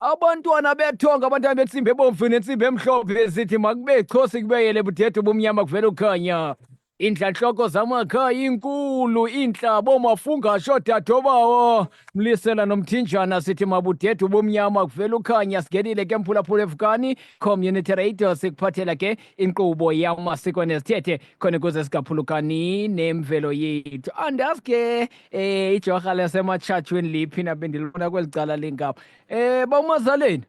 abantwana bethonga abantwana bentsimbi ebomvu nentsimbi emhlophe zithi makube chosi kubeyele budede ubumnyama kuvela ukhanya iintlantloko zamakhaya inkulu iintlabo mafungasho dadobawo mlisela nomthinjana sithi mabudede ubumnyama kuvela ukhanya singenile ke mphulaphula evukani community radio sikuphathela ke inkqubo yamasiko nezithethe khona ukuze singaphulukani nemvelo yethu andazi ke Eh ijorha lasematshatshweni liphi na bendilibona kweli cala lengabo. Eh ba umazaleni.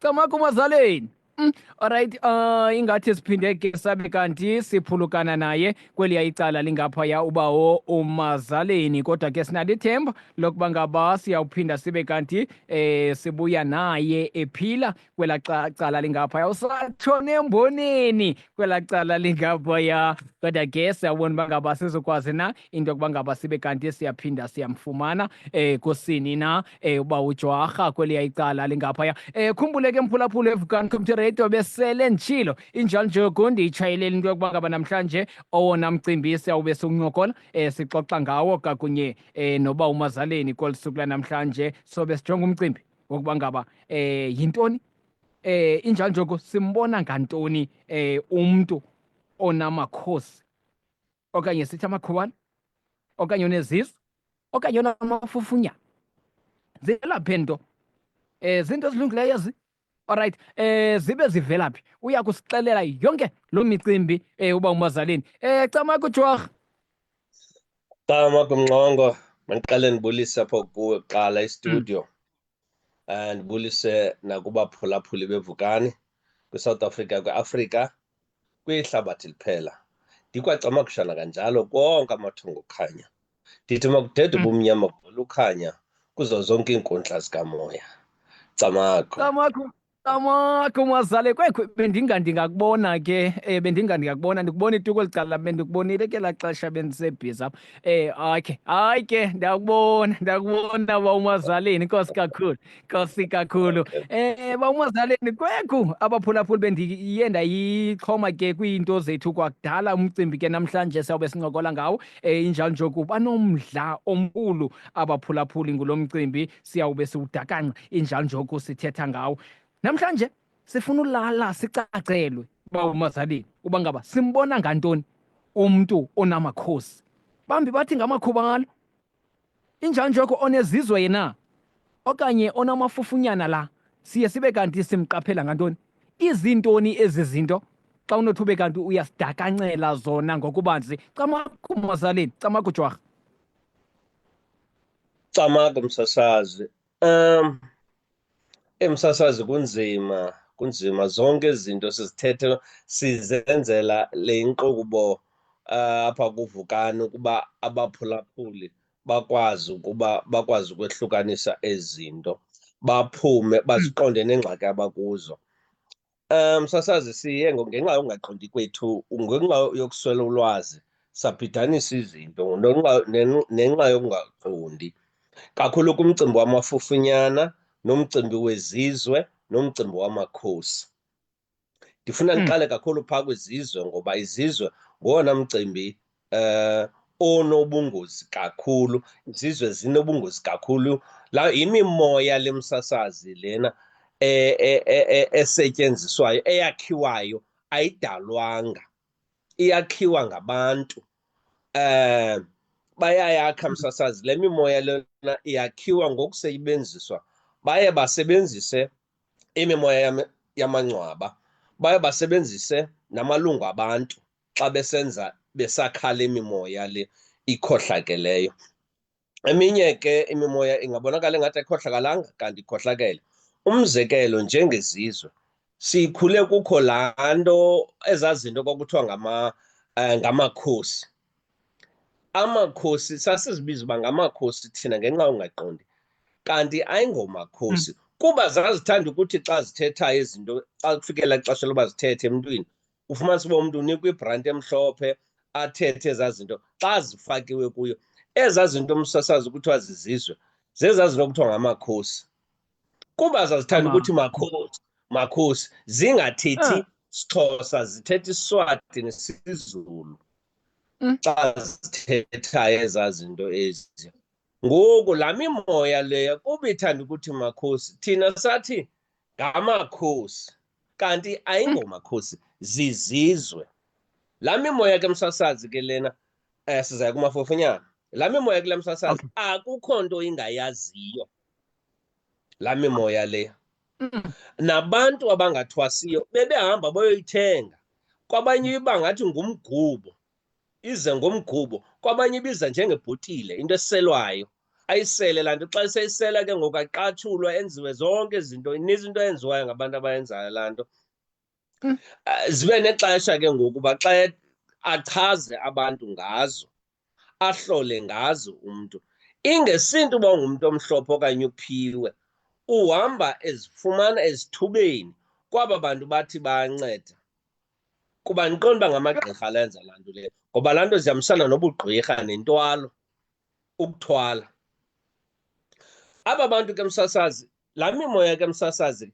Camaka umazaleni. Mm, alright uh ingathi siphinde ke sabe kanti siphulukana naye kweliya icala lingaphaya ubawo umazaleni kodwa ke sinalo ithemba lokuba ngaba siyawuphinda sibe kanti eh sibuya naye ephila kwela cala lingaphaya usatshona emboneni kwela cala lingaphaya kodwa ke siyabona uba ngaba sizokwazi na into yokuba ngaba sibe kanti siyaphinda siyamfumana um kusini na um uba ujwarha kweliya icala lingaphaya um khumbule ke mphulaphula evukani community radio besele nditshilo injalo njoku ndiyitshayeleli into yokuba ngaba namhlanje owona mcimbi siyawube siwuncokola um sixoxa ngawo kakunye um noba umazaleni kolu suku lanamhlanje sobe sijonga umcimbi ngokuba ngaba eh yintoni eh injalo njoko simbona ngantoni eh umuntu onamakhosi okanye sithi amakhubana okanye onezisu okanye onamafufunya zilaphe nto eh zinto ezilungileyo ezi Alright, eh zibe zivelaphi? Uya kusixelela yonke lo micimbi eh uba umazaleni. Eh cama kujwah. Gama kumnqongo mandiqale ndibulise apho kuwe kuqala istudio um eh, ndibulise nakubaphulaphuli bevukani kwisouth africa kwiafrika kwihlabathi liphela ndikwacamakushana kanjalo konke amathongo okhanya ndithi makudede mm. ubumnyama kuvela ukhanya kuzo zonke iinkundla zikamoya camagu Tama kumazale kwekho bendinga ndingakubona ke eh bendinga ndingakubona ndikubona ituko licala bendikubonile ke laxesha bendisebhiza apha eh okay hayi ke ndakubona ndakubona ba umazaleni inkosi kakhulu inkosi kakhulu eh ba umazaleni kwekho abaphulaphuli bendiye ndayixhoma ke kwiinto zethu kwakudala umcimbi ke namhlanje sawube sincokola ngawo eh injalo nje kuba nomdla omkhulu abaphulaphuli ngulomcimbi siyawube siwudakanca injalo njoko sithetha ngawo namhlanje sifuna ulala sicacelwe uba umazalini uba ngaba simbona ngantoni umntu onamakhosi bambi bathi ngamakhuba ngalo injalo njoko onezizwe yena okanye onamafufunyana la siye sibe kanti simqaphela ngantoni izintoni ezi zinto xa unothi ube kanti uyasidakanxela zona ngokubanzi camakumazaleni camakujwarha Camagu msasazi. Um emsasazi kunzima kunzima zonke izinto sizithethe sizenzela le nkqubo eh, apha kuvukani ukuba abaphulaphuli bakwazi ukuba bakwazi ukwehlukanisa ezi zinto baphume baziqonde nengxaki abakuzo Um, sasazi siye ngenxa yokungaqondi kwethu ngenxa yokuswela ulwazi sabhidanisa izinto nenxa yokungaqondi kakhulu kumcimbi wamafufunyana nomcimbi wezizwe nomcimbi wamakhosi ndifuna hmm. ndiqale kakhulu phaa kwizizwe ngoba izizwe ngowona mcimbi eh onobungozi kakhulu izizwe zinobungozi kakhulu la yimimoya lemsasazi lena e-, e-, e-, esetyenziswayo eyakhiwayo ayidalwanga iyakhiwa ngabantu eh bayayakha msasazi le mimoya lena iyakhiwa ngokusebenziswa baye basebenzise imimoya yamangcwaba baye basebenzise namalungu abantu xa besenza besakhala imimoya le ikhohlakeleyo eminye ke imimoya ingabonakala engathi ayikhohlakalanga kanti ikhohlakele umzekelo njengezizwe sikhule kukho laa nto ezaa zinto kwakuthiwa ngama um ngamakhosi amakhosi sasizibiza uba ngamakhosi thina ngenxa ungaqondi kanti ayingomakhosi hmm. kuba zazithanda ukuthi xa zithethayo izinto xa kufikela ixesha loba zithethe emntwini ufumanisa uba umntu unikwa ibranti emhlophe athethe ezaa zinto xa zifakiwe kuyo ezaa zinto umsasazi kuthiwa zizizwe zezaa zinto kuthiwa ngamakhosi kuba zazithanda ukuthi makhosi makhosi zingathethi ah. sixhosa zithetha iswati nesizulu mm. xa zithethayo ezaa zinto ezi ngoku laa mimoya leya kuba ithanda ukuthi makhosi thina sathi ngamakhosi kanti ayingomakhosi zizizwe laa mimoya ke msasazi ke lena um eh, sizaya kumafofunyana laa mimoya kula msasazi akukho nto ingayaziyo laa mimoya leya mm. nabantu abangathwasiyo bebehamba bayoyithenga kwabanye iba ngathi ngumgubo ize ngomgubo kwabanye ibiza njengebhotile into eselwayo ayisele laa nto xa seyisela ke ngoku aqatshulwa enziwe zonke izinto ininzi into eyenziwayo ngabantu abayenzayo laa nto hmm. ah, zibe nexesha ke ngoku uba xa achaze abantu ngazo ahlole ngazo umntu ingesintu uba ungumntu omhlophe okanye uphiwe uhamba ezifumana ezithubeni kwaba bantu bathi banceda kuba ndiqonda uba ngamagqirha alenza laa nto leyo ngoba laa nto zihambisana nobugqirha nentwalo ukuthwala aba bantu ke msasazi laa mimoya ke msasazi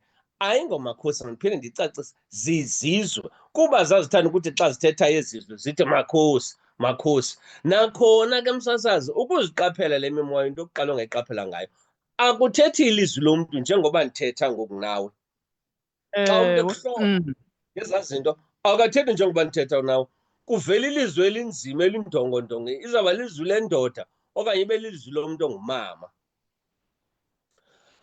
ayingomakhosi mandiphinde ndicacise zizizwe kuba zazithanda ukuthi xa zithetha ezizwe zithi makhosi makhosi nakhona ke msasazi ukuziqaphela le mimoya into yokuqala ongayiqaphela ngayo akuthethi ilizwi lomntu njengoba ndithetha ngoku nawe Mm. ngezaa zinto awukathethi njengoba ndithetha nawo kuvela ilizwi elinzima elindongondongo izawuba lizwi lendoda okanye ibe lizwi lomntu ongumama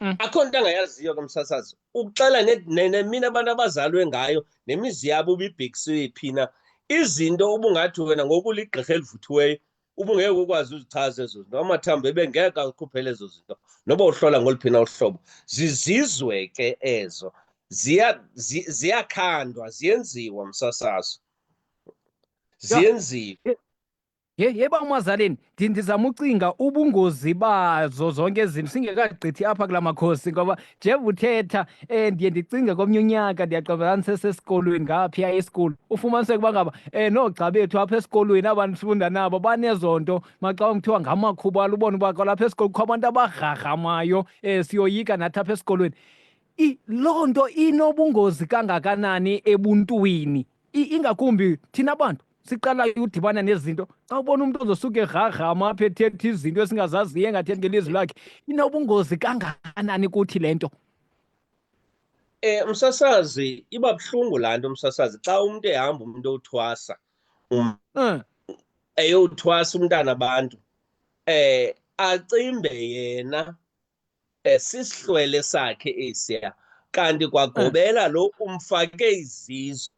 mm. akho nto angayaziyo ke msasazi ukuxela nemina abantu abazalwe ngayo nemizi yabo ubibhekisiwe phina izinto ubungathi wena ngokuligqirha elivuthiweyo ubungeke ukwazi uzichaza ezo zinto amathambo ebengeke akhuphele ezo zinto noba uhlola ngoluphi na uhlobo zizizwe ke ezo ziyakhandwa ziya ziyenziwa msasazo ziyenziwe yeba umazaleni ndizama ucinga ubungozi bazo zonke izinto singekagqithi apha kula makhosi ngoba Jeff uthetha eh ndiye ndicinge komnye unyaka ndiyaqabelana sesesikolweni ngaphiya esikolweni ufumaniseke uba ngaba eh noogxa bethu apha esikolweni aba ndifunda nabo banezo nto maxa kuthiwa ngamakhuba alubona uba kwalapha esikolweni kukho abantu abagrhagrhamayo um eh, siyoyika nathi apha esikolweni loo nto inobungozi kangakanani ebuntwini ingakumbi thina bantu siqala udibana nezinto xa ubona umntu ozosuke egraggrama apha ethetha izinto esingazaziyo engathethi ngelizwi lakhe inobungozi kangakanani kuthi le nto Eh msasazi iba buhlungu laa nto msasazi xa umntu ehamba umntu owuthwasa um, mm. eyowuthwasa umntana abantu eh acimbe yena Sisihlwele sakhe esiya kanti kwagobela lo umfake izizwe.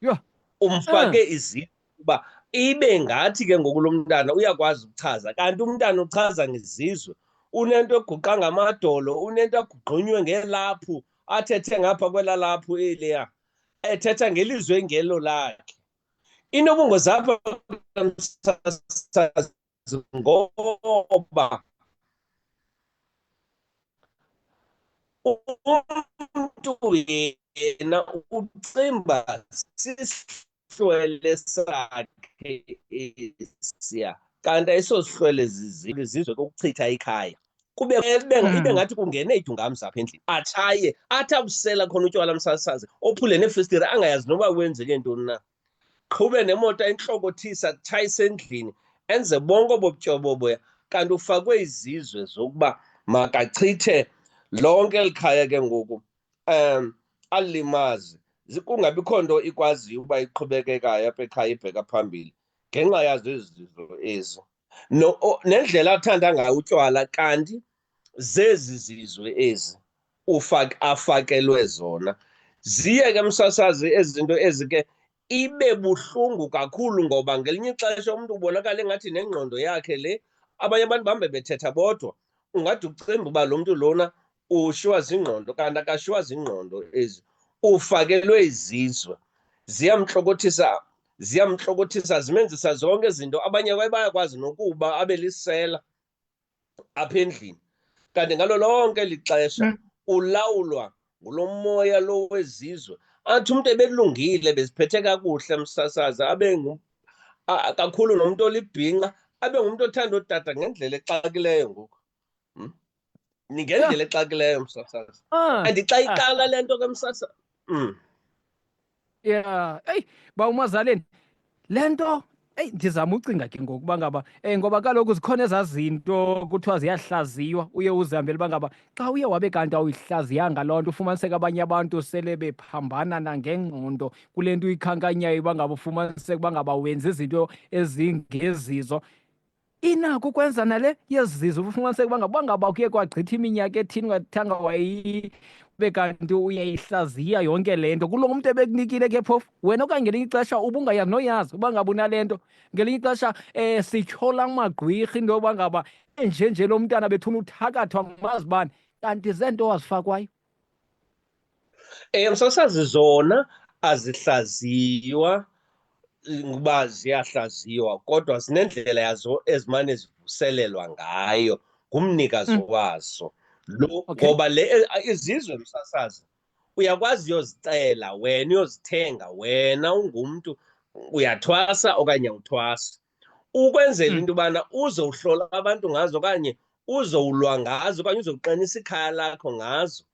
Yho! Umfake izizwe kuba ibe ngathi ke ngoku lo mntana uyakwazi ukuchaza kanti umntana uchaza ngezizwe. Unento eguqa ngamadolo, unento agugqunywe ngelaphu, athethe ngapha kwelaa laphu eliya, ethetha ngelizwe engelo lakhe. Inobungozi apha msasazi ngoba umntu yena ucimba sihlwele sakhe esiya kanti ayisosihlwele zizilo izizwe kokuchitha ikhaya kube ibe hmm. ngathi kungene idungamzi apha endlini atshaye athi abusela khona utywala msasazi ophule neefestire angayazi noba wenzeke ntoni na qhube nemoto entlokothisa tshayise endlini enze bonke obobutyoboboya kanti ufakwe izizwe zokuba makachithe lonke eli khaya ke ngoku um alimazi kungabikho nto ikwaziyo uba iqhubekekayo apha ekhaya ibheka phambili ngenxa yazo ezi zizo ezi no, nendlela athanda ngayo utywala kanti zezi zizwe ezi ufak afakelwe zona ziye ke msasazi ezi zinto ezi ke ibe buhlungu kakhulu ngoba ngelinye ixesha umntu ubonakala engathi nengqondo yakhe le abanye abantu bahambe bethetha bodwa ungade ucimbe uba lo mntu lona ushiwa zingqondo kanti akashiwa zingqondo ezi ufakelwe izizwe ziyamhlokothisa ziyamhlokothisa zimenzisa zonke izinto abanye kwaye bayakwazi nokuba abe lisela apha endlini kanti ngalo lonke lixesha mm. ulawulwa ngulo moya lo wezizwe athi umntu ebelungile beziphethe kakuhle msasaza abe kakhulu nomntu olibhinqa abe ngumntu othanda odada ngendlela exakileyo ngoku hmm? ningendlela exakileyo msasazi ah, and xa ah. iqala le nto ke msasa mm. ya eyi ba umazaleni le nto eyi ndizama ucinga ke ngoku uba ngaba um ngoba kaloku zikhona ezaa zinto kuthiwa ziyahlaziywa uye uzihambele uba ngaba xa uye wabe kanti awuyihlaziyanga loo nto ufumaniseka abanye abantu sele bephambana nangengqondo kule nto uyikhankanyayo uba ngaba ufumaniseka uba ngaba wenza izinto ezingezizo inako ukwenza nale yezizo ufumaniseka uba ngaba ngaba kuye kwagqitha iminyaka ethini ungathanga wayi ube kanti uyayihlaziya yonke le nto kulo mntu ebekunikile ke phofu wena okanye ngelinye ixesha ubungayazi noyazi uba ngaba unale nto ngelinye ixesha um sityhola amagqwirha into yoba ngaba enjenje lo mntana bethuna uthakathwa ngumazibane kanti zeento wazifakwayo Um sasazi zona azihlaziywa ukuba ziyahlaziywa kodwa zinendlela yazo ezimane zivuselelwa ngayo ngumnikazi mm. wazo lo ngoba le izizwe msasazi uyakwazi uyozicela wena uyozithenga wena ungumntu uyathwasa okanye awuthwasi ukwenzela hmm. into yobana uze uhlola abantu ngazo okanye uze ulwa ngazo okanye uze uqinisa ikhaya lakho ngazo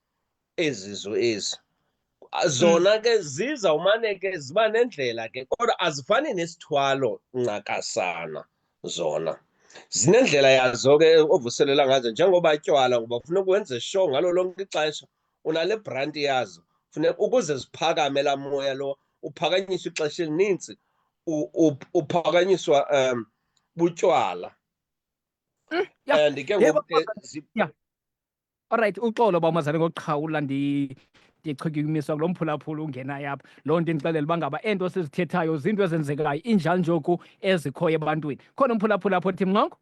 ezi zo ezi hmm. zona ke ziza umane ke ziba nendlela ke kodwa azifani nesithwalo ncakasana zona zinendlela yazo ke ovuselela ngazo njengoba tywala ngoba ufuna ukwenze sure ngalo lonke ixesha unale branti yazo funeka ukuze ziphakame laa moya lo uphakanyiswa ixesha elininzi uphakanyiswa um butywala eh, and ke ngoku olrayithi uxolo uba umazane ngokuqhawula ndichukumiswa kulo mphulaphula ungenayo apha loo nto indixelela uba ngaba eento sizithethayo ziinto ezenzekayo injalo njoku ezikhoyo ebantwini khona umphulaphula apho othi mnqongo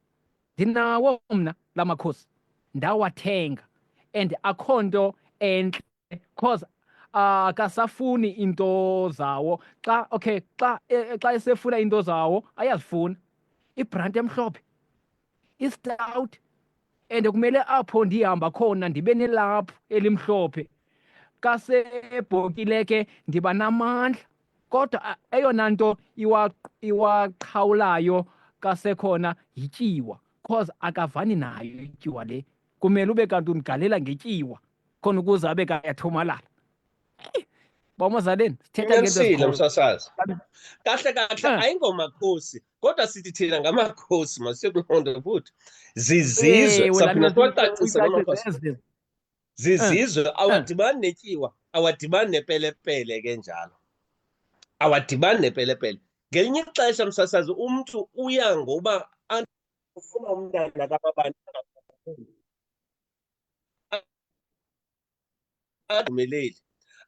ndinawo mna la makhosi ndawathenga and akho nto entle cause akasafuni uh, into zawo xa okay xa e, xa esefuna into zawo ayazifuna ibranti emhlophe istout and kumele apho ndihamba khona ndibe nelaphu elimhlophe kasebhokile ke ndiba namandla kodwa a- eyona nto iwa- iwaqhawulayo kasekhona yityiwa cause akavani nayo ityiwa le kumele ube kanti undigalela ngetyiwa khona ukuze abe kanti uyathomalala Eh, bamazaleni sithetha ngento Uqinisile ezikhoyo. msasazi. Kahle kahle Eh. ayingomakhosi kodwa sithi thina ngamakhosi masikulonda futhi. Zizizwe Ewe, laa saphinde nto siwacacise uyicacisele. ngamakhosi. zizizwe eh, eh. awadibani netyiwa awadibani nepelepele ke njalo awadibani nepelepele ngelinye ixesha msasazi umntu uya ngoba ufuna umntana kababani adumeleli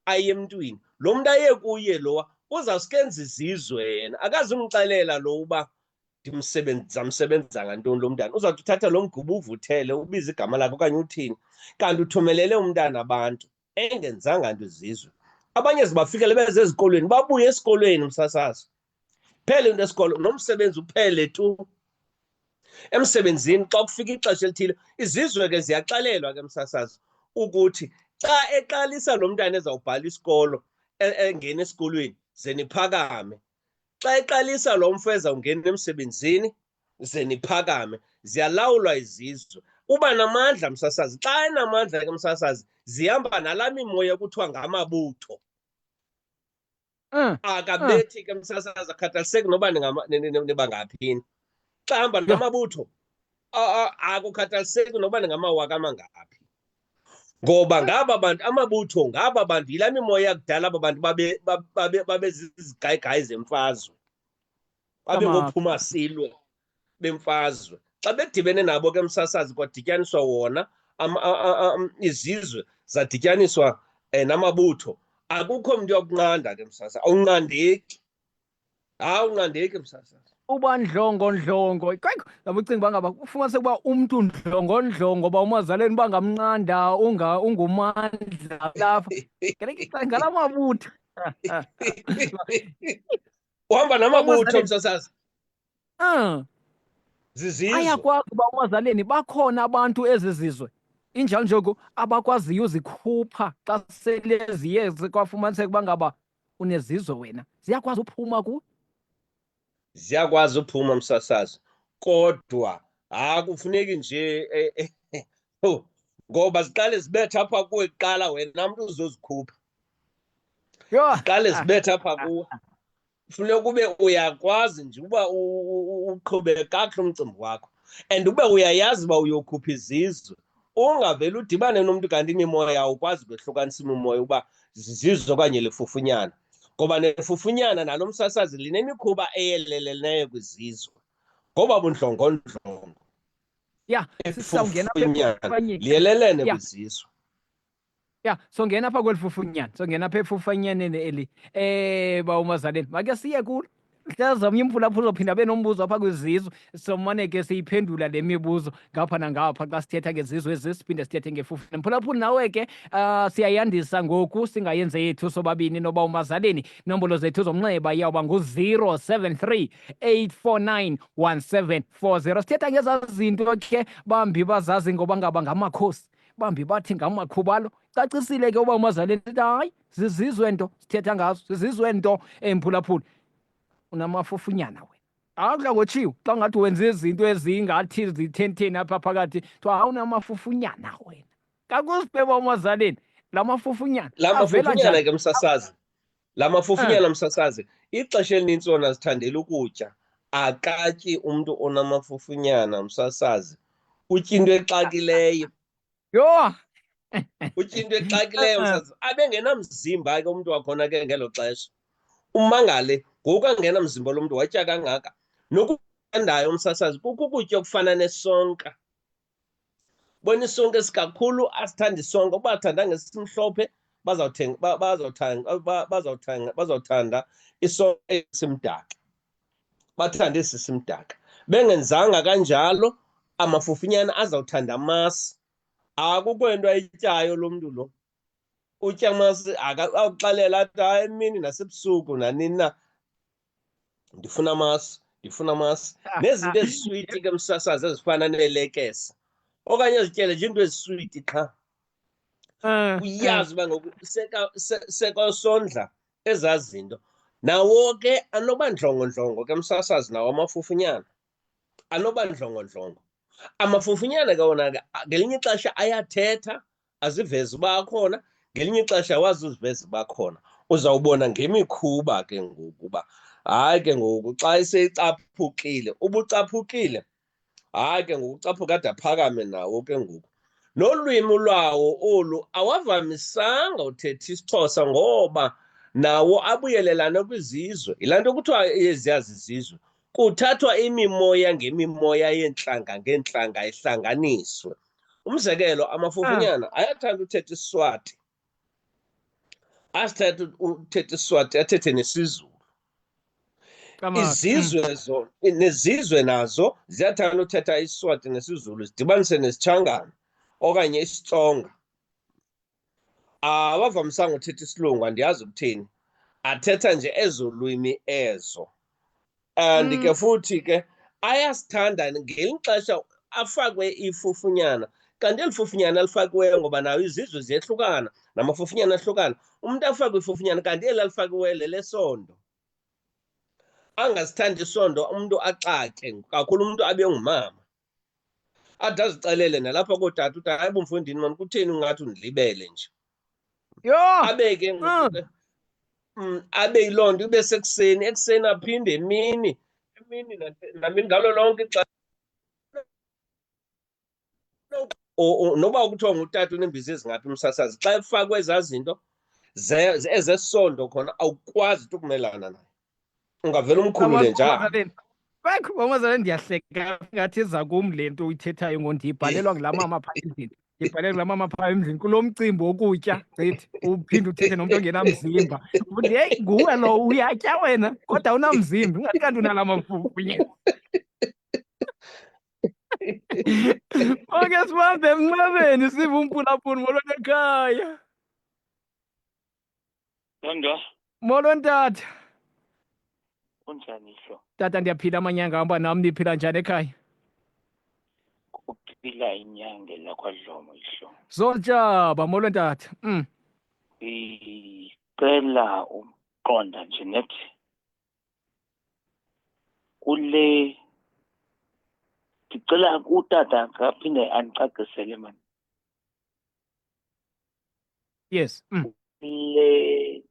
aye emntwini lo mntu aye kuye lowa uzawuskenza izizwe yena akazumxelela lo uba ndizamsebenza ngantoni lo mntana uzawuthi uthatha lo mgubo uvuthele ubize igama lakhe okanye uthini kanti uthumelele umntana abantu engenzanga nto izizwe abanye zibafikele beze ezikolweni babuye esikolweni umsasazo phele into esikolo nomsebenzi uphele tu emsebenzini xa kufika ixesha elithile izizwe ke ziyaxalelwa ke msasazo ukuthi xa eqalisa lo mntana ezawubhala isikolo e-, engena esikolweni ze niphakame xa eqalisa lo mfo ezawungena emsebenzini ze niphakame ziyalawulwa izizwe uba namandla msasazi xa enamandla ke msasazi zihamba nalaa mimoya kuthiwa ngamabutho mm. akabethi ke msasazi akhathaliseki noba nibangaphini xa hamba namabutho akukhathaliseki noba ningamawaka amangaphi ngoba ngaba bantu amabutho ngaba bantu yila mimoya yakudala aba bantu babezizigayigayi zemfazwe babengophuma silwe bemfazwe xa bedibene nabo ke msasazi kwadityaniswa wona izizwe zadityaniswa um namabutho akukho mntu yokunqanda ke msasa awunqandeki hawu ungandeki msasa uba ndlongondlongo kwekho yabo ucinga uba ngaba ufumanise ukuba umntu ndlongondlongo uba umazaleni uba ngamnqanda ungumandla lapha ngala mabutho uhamba namabutho msasazi um zizizwe ayakwazi uba umazaleni bakhona abantu ezi zizwe injalo njoku abakwaziyo uzikhupha xa sele ziye kwafumaniseka uba ngaba Unezizwe wena. Ziyakwazi uphuma ku. Ziyakwazi uphuma msasazi. Kodwa ha kufuneki nje eh, eh, eh, oh, ngoba ziqale zibetha apha kuwe kuqala wena mntu uzozikhupha. Yho. Ziqale zibetha apha kuwe. Kufuneka ube uyakwazi nje uba uqhube kakuhle umcimbi wakho. And ube uyayazi uba uyokhupha izizwe. ungavele udibane nomntu kanti imimoya awukwazi ukwehlukanisa imimoya uba zizizo okanye lifufunyana ngoba nefufunyana nalo msasazi linemikhuba eyeleleleneyo kwizizwe ngoba bundlongondlongo ya sisawungena liyelelene kwizizwe ya songena pha kweli fufunyana songena pha efufanyaneni eli eh ba umazaleni make siye kulo hlaza omnye umphulaphula uzophinda abe nombuzo apha kwizizwe somane ke siyiphendula le mibuzo ngapha nangapha xa sithetha ngezizwe ezi siphinde sithethe ngefufuna mphulaphula nawe ke uh, siyayandisa ngoku singayenze yethu sobabini noba umazaleni nombolo zethu zomnxeba iyawuba ngu-073 849 1740 sithetha ngezaa zinto ke bambi bazazi ngoba ngaba ngamakhosi bambi bathi ngamakhubalo cacisile ke uba umazaleni lithi hayi zizizwe nto sithetha ngazo zizizwe nto emphulaphuli unamafufunyana we akudla ngotshiwo xa ngathi wenza izinto ezingathi zithentheni apha phakathi kuthiwa hawu unamafufunyana wena kakuzibheba umazaleni la mafufunyana la mafufunyana ke msasazi la mafofunyana hmm. msasazi ixesha elinintsi wona zithandela ukutya akatyi umntu onamafofunyana msasazi utya into exakileyo yho utya into exakileyo msasazi abengenamzimba ke umntu wakhona ke ngelo xesha umangale ngoku angenamzimba lo mntu watya kangaka nokuandayo umsasazi kukukutya okufana nesonka bona isonke esikakhulu asithanda isonke uba athanda ngesimhlophe bazawuthanda isonke esimdaka bathanda esi simdaka bengenzanga kanjalo amafufinyana azawuthanda amasi akukho into ayityayo lo mntu lo utya amasi akuxalela athi hayi emini nasebusuku nanini na ndifuna amasi ndifuna amasi nezinto eziswiti ke msasazi ezifana neelekese okanye ezityele nje into eziswiti qha ah, uyazi ah. uba ngoku sekwasondla ezaa zinto nawo ke anoba ndlongondlongo ke msasazi nawo amafufunyana anoba ndlongondlongo amafufunyana ke wona ke ngelinye ixesha ayathetha azivezi uba akhona ngelinye ixesha wazi uzivezi uba khona uzawubona ngemikhuba ke ngoku uba hayi ke ngoku xa eseyicaphukile ubucaphukile hayi ke ngoku ucaphuka ade aphakame nawo ke ngoku nolwimi lwawo olu awavamisanga uthetha isixhosa ngoba nawo abuyelelane kwizizwe yilaa nto kuthiwa eziyazizizwe kuthathwa imimoya ngemimoya yeentlanga ngeentlanga ihlanganiswe umzekelo amafufunyana ah. ayathanda uthetha isiswati asithetha uthetha isiswati athethe nesizulu izizwe hmm. zo nezizwe nazo ziyathanda uthetha isiswati nesizulu zidibanise nesitshangana okanye isitsonga awavamisanga uthetha isilungu andiyazi ukuthini athetha nje ezo lwimi ezo and mm. ke futhi ke ayasithanda ngelinye ixesha afakwe ifufunyana kanti eli fufunyana alifakiweyo ngoba nayo izizwe ziyehlukana namafufunyana ahlukana umntu afakwe ifufunyana kanti eli alifakiweyo lelesondo angasithandi isondo umntu axake kakhulu umntu abe ngumama athi azixelele nalapha kootata uthi hayi bo mfondini mani kutheni ungathi undilibele nje yho abe ke ah. mm, abe yiloo nto ibe sekuseni ekuseni aphinde emini emini namini ngalo lonke ixesha noba kuthiwa ngutata unembizi ezingaphi umsasazi xa efakwe ezaa zinto ezesondo khona awukwazi uthi ukumelana nayo ungavele umkhulule njani bakho bamazala ndiyahleka ngathi eza kum le nto uyithethayo ngo ndiyibhalelwa ngulaa mama phaa endlini ndibhalele ngulaa mama phaa emzini kulo mcimbi wokutya gqithi uphinde uthethe nomntu ongenamzimba uthi heyi nguwe lo uyatya wena kodwa unamzimba ingathi kanti unala mafufunye oke sibambe emnqabeni sive umpulaphuni molwanekhaya Nanga, molweni tata kunjani hlo? tata ndiyaphila amanyanga hamba nam niphila njani ekhaya Kuphila inyange lakwadlomo ihlo. zoltshaba molweni tata mm. Ngicela ukuqonda nje nethi kule ngicela utata aphinde andicacisele mani. Yes. Mm. Le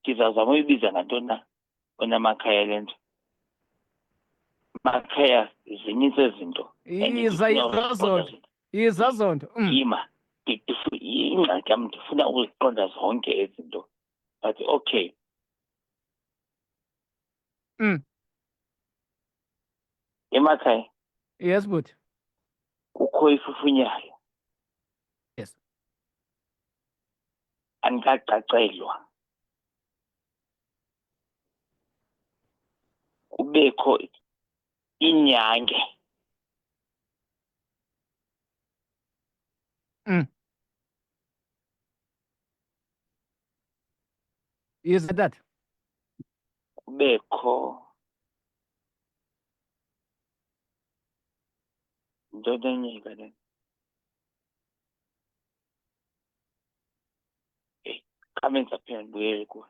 ndizazama uyibiza ngantoni na onamakhaya le nto makhaya zininzi ezinto iza izazonto izazonto mm. yima ingxaki yam ndifuna ukuziqonda zonke ezinto but okay mm. emakhaya yes bhuti kukho ifufunyayo Yes. andikacacelwa kubekho inyange yes dad kubekho into enye ke le eyi kamenza phela ndibuyele kuwe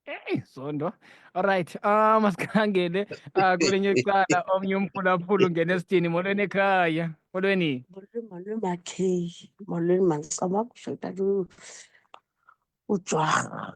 Hey, Zondo. All right. Ah, masikhangele ah kulenye icala omnye umphulaphula ungena esidini molweni ekhaya. Molweni. Molweni molweni makheyi, molweni mandicaba kusho utata u- uJwarha.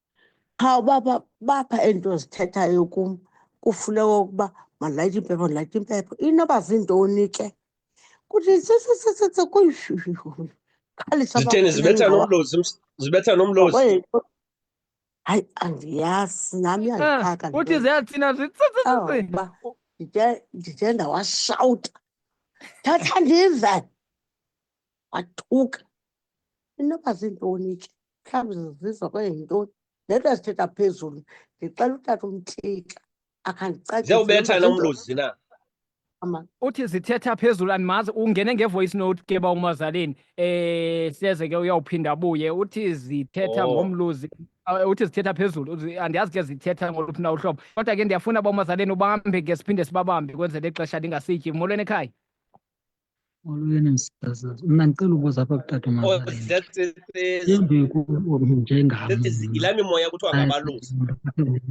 qha uba bapha ento zithethayo kum kufuneka ukuba malayithe impepho ndilayithe impepho inoba ziintoni ke kuthi sisisisise kuyishushushuzitheni zibetha nomlozi zibetha nomlozi hayi andiyazi nami ah, yandixhaka kuthi ziyathina zitsitsitsitsi ndithe ndawashawuta thatha ndive wathuka inoba ziintoni ke mhlawumbi zizizwa kwenye yintoni le nto azithetha phezulu ndixela utata umthixha akhandicaciziyawubetha nomluzi na uthi zithetha phezulu andimazi ungene ngevoice note ke ba umazaleni eh seze ke uyawuphinda abuye uthi zithetha oh. ngomluzi eh, uthi zithetha phezulu andiyazi ke zithetha ngoluphi na uhlobo kodwa ke ndiyafuna ba umazaleni ubambe ke siphinde sibabambe kwenzele ixesha ndingasityi molweni ekhaya Molweni msasazi. Mna ndicela ubuza apha kutata Oh, uMazaleni. that's it. is- Yembi kubo njengam. That is yilaa mimoya kuthiwa ngabalusi.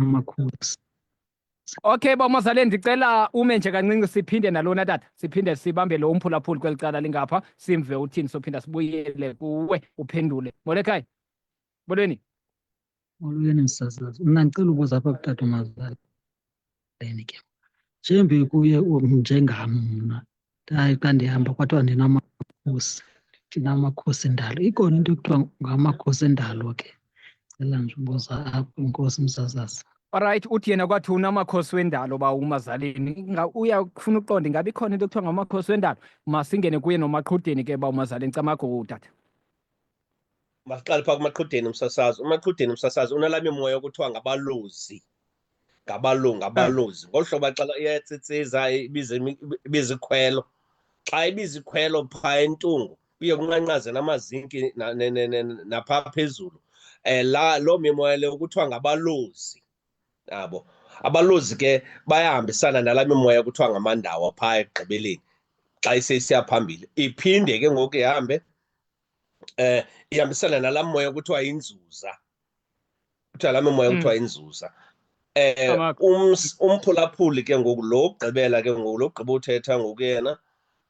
Amakhosi. Okay, bamazale ndicela ume nje kancinci siphinde nalona tata. Siphinde sibambe lo umphulaphuli kwelicala lingapha, simve uthini sophinda sibuyele kuwe uphendule. Molekhaya. Molweni. Molweni msasazi. Mna ndicela ubuza apha kutata umazali. ke. Njembe kuye njengam mna ndaye xa ndihamba kwathiwa ndinamakhosi ndinamakhosi endalo ikhona into ekuthiwa ngamakhosi endalo ke cela nje ubuza apho inkosi msasazi Alright, uthi yena kwathi unamakhosi wendalo ba umazalini. Uyafuna uqonda ingabe ikhona into ekuthiwa ngamakhosi wendalo. Masingene kuye nomaqhudeni ke ba umazalini camago utata. masiqale phaa kumaqhudeni umsasazi umaqhudeni umsasazi unala mimoya okuthiwa ngabalozi ngabalungu ngabalozi ngolu hlobo xa iyatsitsiza ibiza ikhwelo xa ibiza ikhwelo phaa entungu kuye kunqanqaze namazinki naphaa phezulu um la loo mimoya leyo kuthiwa ngabalozi nabo abalozi ke bayahambisana nala mimoya kuthiwa ngamandawo phaa ekugqibeleni xa iseyisiya phambili iphinde ke ngoku ihambe eh ihambisana nalaa moya kuthiwa inzuza kuthiwa laa moya hmm. kuthiwa inzuza eh umphulaphuli ke ngoku lo ugqibela ke ngoku lo gqiba uthetha ngoku yena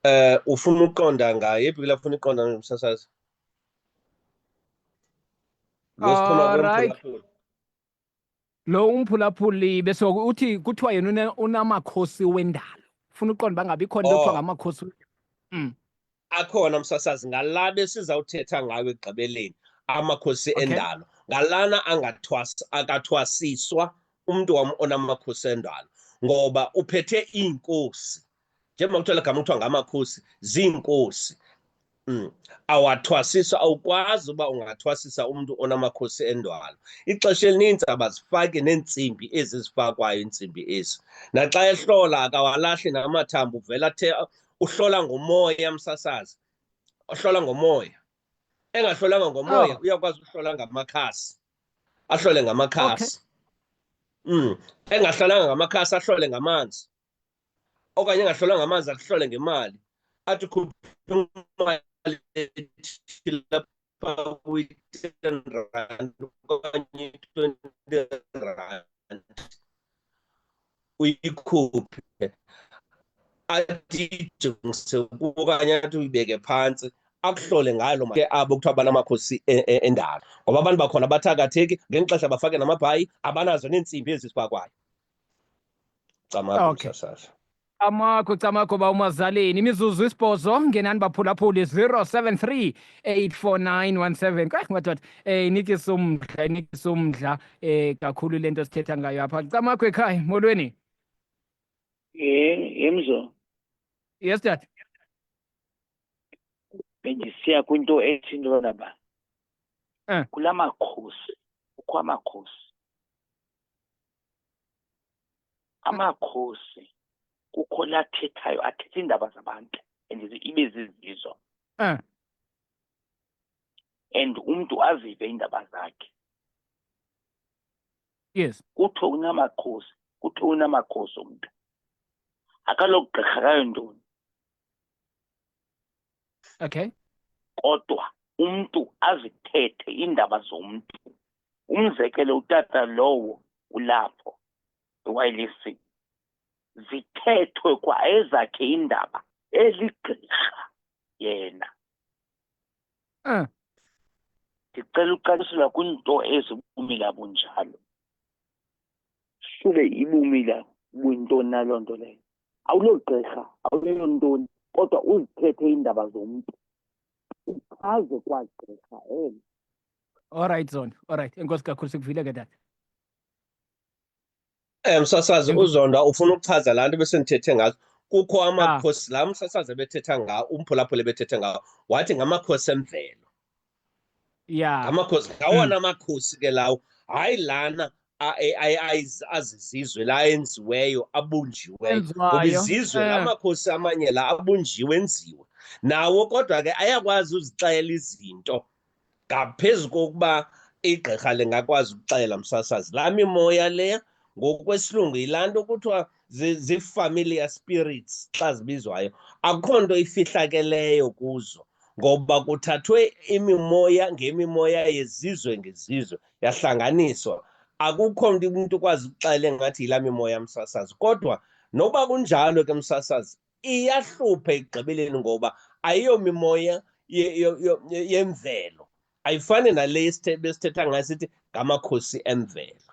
eh ufuna uqonda ngaye yephi kula funa iqonda ngomsasazi Losiphuma kwemphulaphula lo umphulaphuli besoku uthi kuthiwa yena unamakhosi wendalo funa uqonda uba ngabe ikhona into kuthiwa oh. ngamakhosi mm. akhona msasazi ngala besizawuthetha ngayo ekugqibeleni amakhosi okay. endalo ngalana akathwasiswa umntu wam onamakhosi endalo ngoba uphethe iinkosi njengoba kuthiwa legama kuthiwa ngamakhosi ziinkosi Mm. awathwasisa awukwazi uba ungathwasisa umntu onamakhosi endwalo ixesha elininzi abazifaki neentsimbi ezi zifakwayo iintsimbi ezi naxa ehlola akawalahli namathambo uvela athe uhlola ngomoya msasazi uhlola ngomoya engahlolanga ngomoya oh. uyakwazi uhlola ngamakhasi ahlole ngamakhasi okay. mm. engahlolanga ngamakhasi ahlole ngamanzi okanye engahlolanga amanzi akuhlole ngemali athi khupha kwi-ten rand okanye twenty rand uyikhuphe athi ijongise okanye athi uyibeke phantsi akuhlole ngalo ke abo kuthiwa banamakhosi e, e, endalo ngoba abantu bakhona abathakatheki ngeli xesha bafake namabhayi abanazo neentsimbi ezisibakwayo camakho okay. msasasa camakho camakho ba umazaleni imizuzu isibhozo ngenani baphulaphuli 073 84917 kwaye madoda um eh, inikisa umdla inikisa umdla um eh, kakhulu le nto sithetha ngayo apha camakho ekhaya molweni yemzo yes dad bendisiya kwinto ethi into yona ba um eh. kula makhosi kukho amakhosi amakhosi kukho lathethayo athetha iindaba zabantu and ibe zizizo mm. and umntu azive iindaba zakhe yes kuthiwe unamakhosi kuthiwe unamakhosi umntu akalogqirha kayo ntoni okay kodwa umntu azithethe iindaba zomntu umzekelo utata lowo ulapho ewayilc zithethwe kwa ezakhe iindaba eligqirha yena ah. ndicela uqalisela kwinto ezibumila bunjalo sube ibumila kwinto naloo nto leyo awulogqirha awuleyo ntoni kodwa uzithethe iindaba zomntu uchaze kwagqirha elo olrayithi zondo olrayithi enkosi kakhulu sikuvile ke tata um msasazi uzonda ufuna ukuchaza laa nto besendithethe ngazo kukho ah. amakhosi laa msasazi ebethetha ngawo umphulaphula ebethethe ngawo wathi ngamakhosi emvelo ya ngamakhosi ngawona makhosi ke lawo hayi lana azizizwe la enziweyo abunjiweyo ngoba izizwe la makhosi amanye la abunjiwe enziwe nawo kodwa ke ayakwazi uzixela izinto ngaphezu kokuba igqirha lingakwazi ukuxela msasazi laa mimoya leya ngokwesilungu yilaa nto kuthiwa zii-familiar spirits xa zibizwayo akukho nto ifihlakeleyo kuzo ngoba kuthathwe imimoya ngemimoya yezizwe ngezizwe yahlanganiswa akukho nto umntu ukwazi ukuxele ngathi yilaa mimoya msasazi kodwa noba kunjalo ke msasazi iyahlupha ekugqibeleni ngoba ayiyomimoya yemvelo ayifani nale besithetha ngayo sithi ngamakhosi emvelo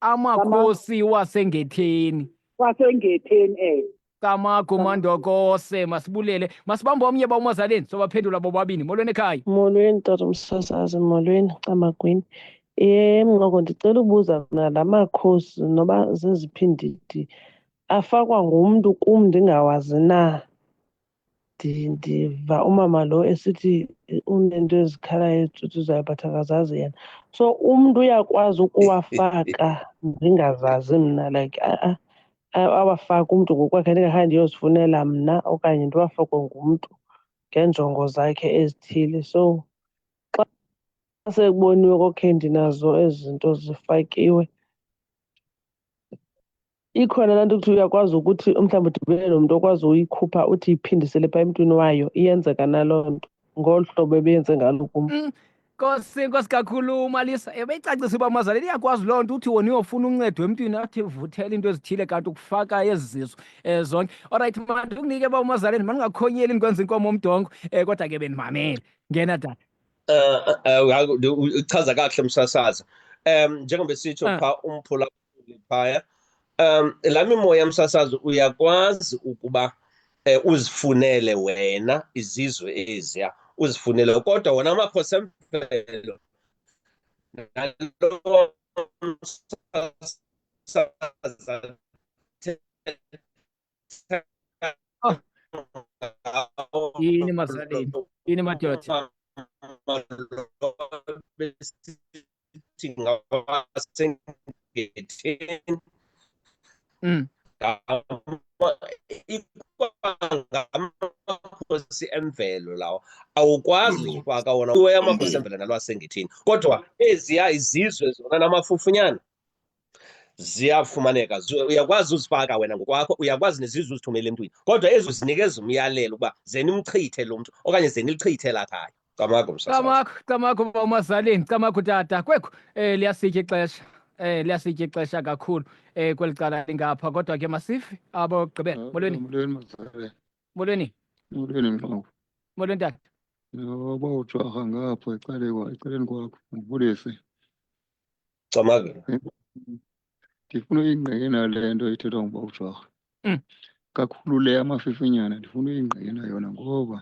amakhosi wasengetheni wasengetheni eh Camagu Mandokose masibulele masibambe omnye ba umazaleni sobaphendula bobabini molweni ekhaya molweni tata umsasazi molweni camagwini um ngoko ndicela ubuza mna la makhosi noba zeziphi ndidi afakwa ngumntu kum ndingawazi na ndiva umama lo esithi unento ezikhalayo ezicuthi zayo but akazazi yena so umntu uyakwazi ukuwafaka ndingazazi mna like a-a awafake umntu ngokwakhe ndingakhange ndiyozifunela mna okanye ndiwafakwe ngumntu ngeenjongo zakhe ezithile so xa sekuboniwe kokhe ndinazo ezi zinto zifakiwe ikhona laa nto ukuthi uyakwazi ukuthi umhlawumbi udibene nomntu okwazi uyikhupha uthi iphindisele pha emntwini wayo iyenzeka naloo nto ngolu hlobo ebeyenze ngalo kum mm, nkosi nkosi kakhulu umalisa ebeyicacisa uba mazali liyakwazi loo nto uthi wona uyofuna uncedo emntwini athi vuthela into ezithile kanti ukufaka ezi zizo um zonke orayithi mandi ukunike uba umazaleni mandingakhonyeli ndikwenza inkomo omdongo um kodwa ke bendimamele ngena dala um uchaza kakuhle msasaza um njengoba sitsho ah. pha umphulaphula phaya um laa mimoya yomsasazo uyakwazi ukuba um uzifunele wena izizwe eziya uzifunele kodwa wona amakhosi emvelo nalo msasazo yini mazalini yini madoda ukuthi ngaba sengetheni mm amakhosi emvelo lawo awukwazi mm. ufaka wona kuwe amakhosi emvelo nalwasengethini kodwa eziya izizwe zona namafufunyana ziyafumaneka uyakwazi uzifaka wena ngokwakho uyakwazi nezizwe uzithumele emntwini kodwa ezo zinikeza umyalelo ukuba ze nimchithe lo mntu okanye ze nilichithe lakhaya camakho camakho camakho umazalini camakho tata kwekho um liyasitya ixesha eh liyasitya ixesha kakhulu eh kweli cala lingapha kodwa ke masifi abogqibela ah, molweni molweni mazalwe molweni molweni mnqobo molweni tata yoba ujaha ngapho ecaleni ecaleni kwakho ngivulise Camavela. ndifuna uyingqike nayo le nto ithethwa nguba ujwarha Mm. kakhulu le amafifinyana ndifuna uyingqike nayo yona ngoba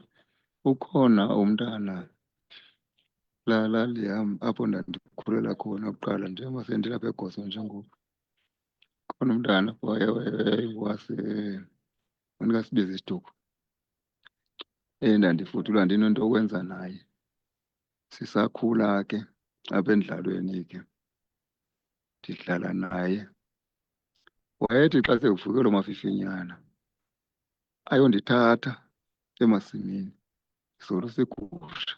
ukhona umntana la lali yam apho ndandikhulela khona kuqala njengoba sendilapha egoso njengoku khona umntana apho waye- waye- wase andikasibizi isituko endandifudula ndinento okwenza naye sisakhula ke apha endlalweni ke ndidlala naye wayethi xa sekuvuke lo mafifinyana ayondithatha emasimini isolo segusha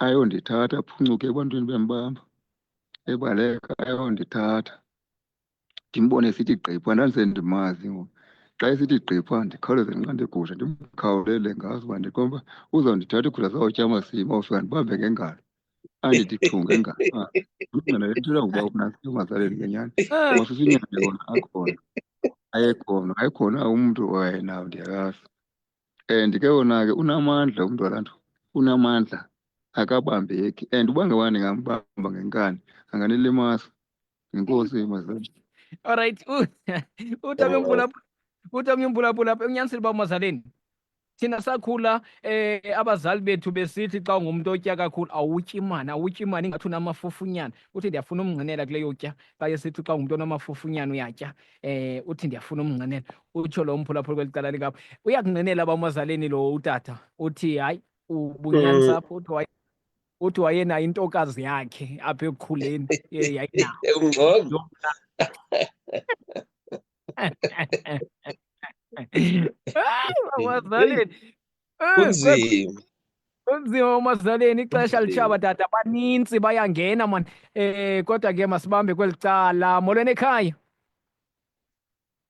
ayondithatha aphuncuke ebantwini bembamba ebaleka ayondithatha ndimbone sithi gqipha ndandisendimazi ngoku xa esithi gqipha ndikhawuleze ndinqande igusha ndimkhawulele ngazi uba ndikomba uzawundithatha igusha zawutya amasimi ofika ndibambe ngengalo andithi chu ngengalo ah, umntana lethula ngoba unasiyo mazaleni ngenyani ngoba sisinyana yona akhona ayekhona ayekhona umntu owayenawo ndiyakazi and ke wona ke unamandla umntu walanto unamandla akabambeki and uba ngabani ngambamba ngenkani anganilimasa Inkosi mazali. All right. U- Utame Oh. umbula utame umbula bula unyanisile ba mazaleni. Thina sakhula eh abazali bethu besithi xa ungumuntu otya kakhulu awutyi imali awutyi imali ingathi unamafufunyana uthi ndiyafuna umngcinela kule yotya xa esithi xa ungumuntu onamafufunyana uyatya eh uthi ndiyafuna umngcinela utsho lo mphulaphula kweli cala likapha uyakungcinela bamazaleni lo utata uthi hayi ubunyanisa apho uthi hayi uthi wayena intokazi yakhe apha ekukhuleni yayinayo abazaleni kunzima kunzima umazaleni ixesha litshaba tata banintsi bayangena mani um eh, kodwa ke masibambe kweli cala molweni ekhaya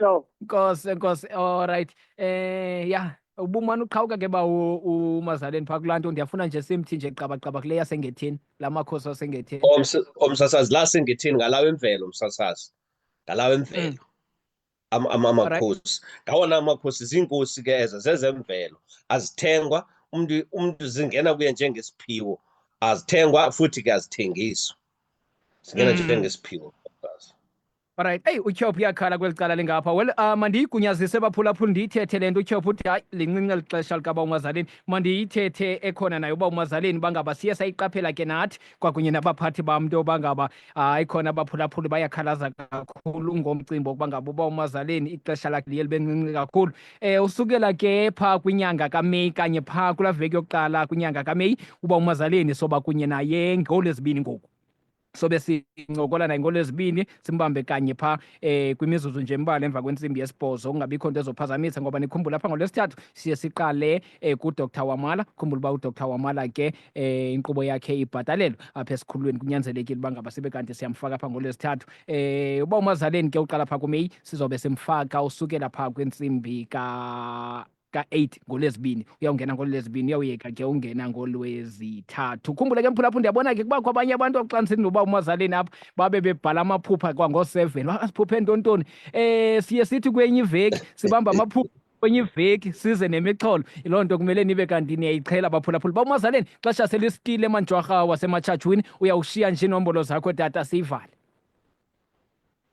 So. Nkosi, nkosi. All right. Eh, yeah. ubumane uqhawuka ke ba umazaleni phaa kulaa nto ndiyafuna nje simthi nje qabaqaba kule yasengethini la makhosi asengethini omsasazi la sengethini ngalawo emvelo umsasazi ngalawo emvelo mm. amakhosi ngawona amakhosi ziinkosi ke ezo zezemvelo azithengwa umntu umntu zingena kuye njengesiphiwo azithengwa futhi ke azithengiswa zingena mm. njengesiphiwo Alright, eyi utyhophu uyakhala kweli cala lingapha. Well, uh, mandiyigunyazise baphulaphula ndiyithethe le nto utyhophu uthi hayi lincinci eli xesha likabawo umazaleni. Mandiyithethe ekhona naye ubawo umazaleni uba ngaba siye sayiqaphela ke nathi kwakunye nabaphathi bam nto yoba ngaba hayi khona abaphulaphuli bayakhalaza kakhulu ngomcimbi wokuba ngaba ubawo umazaleni ixesha lakhe liye libe ncinci kakhulu. Um usukela ke phaa kwinyanga kaMeyi kanye phaa kulaa veki yokuqala kwinyanga kaMeyi ubawo umazaleni soba kunye naye ngolo ezibini ngoku. sobe sincokola naye ngolwezibini simbambe kanye pha eh kwimizuzu nje mbala emva kwentsimbi yesibhozo kungabikho nto ezophazamisa ngoba nikhumbula pha ngolwesithathu siye siqale eh kudr wamala khumbula uba udr wamala ke eh inkqubo yakhe ibhatalelwe apha esikhululweni kunyanzelekile uba ngaba sibe kanti siyamfaka pha ngolwesithathu eh uba umazaleni ke uqala pha kumeyi sizobe simfaka usukela pha kwintsimbi ka ka-8 ngolwezibini uyawungena ngolwezibini uyawuyeka ke ungena ngolwezithathu ukhumbule ke mphulaphula ndiyabona ke kubakho abanye abantu akuxaniseni noba umazaleni apha babe bebhala amaphupha kwangoseven asiphuphe ntontoni um eh, siye sithi kwenye iveki sibamba amaphupha kwenye iveki size nemixholo loo nto kumele nibe kanti niyayiqhela baphulaphula bawumazaleni xesha selisitile emanjwarha wasematshajwini uyawushiya nje inombolo zakho tata siyivale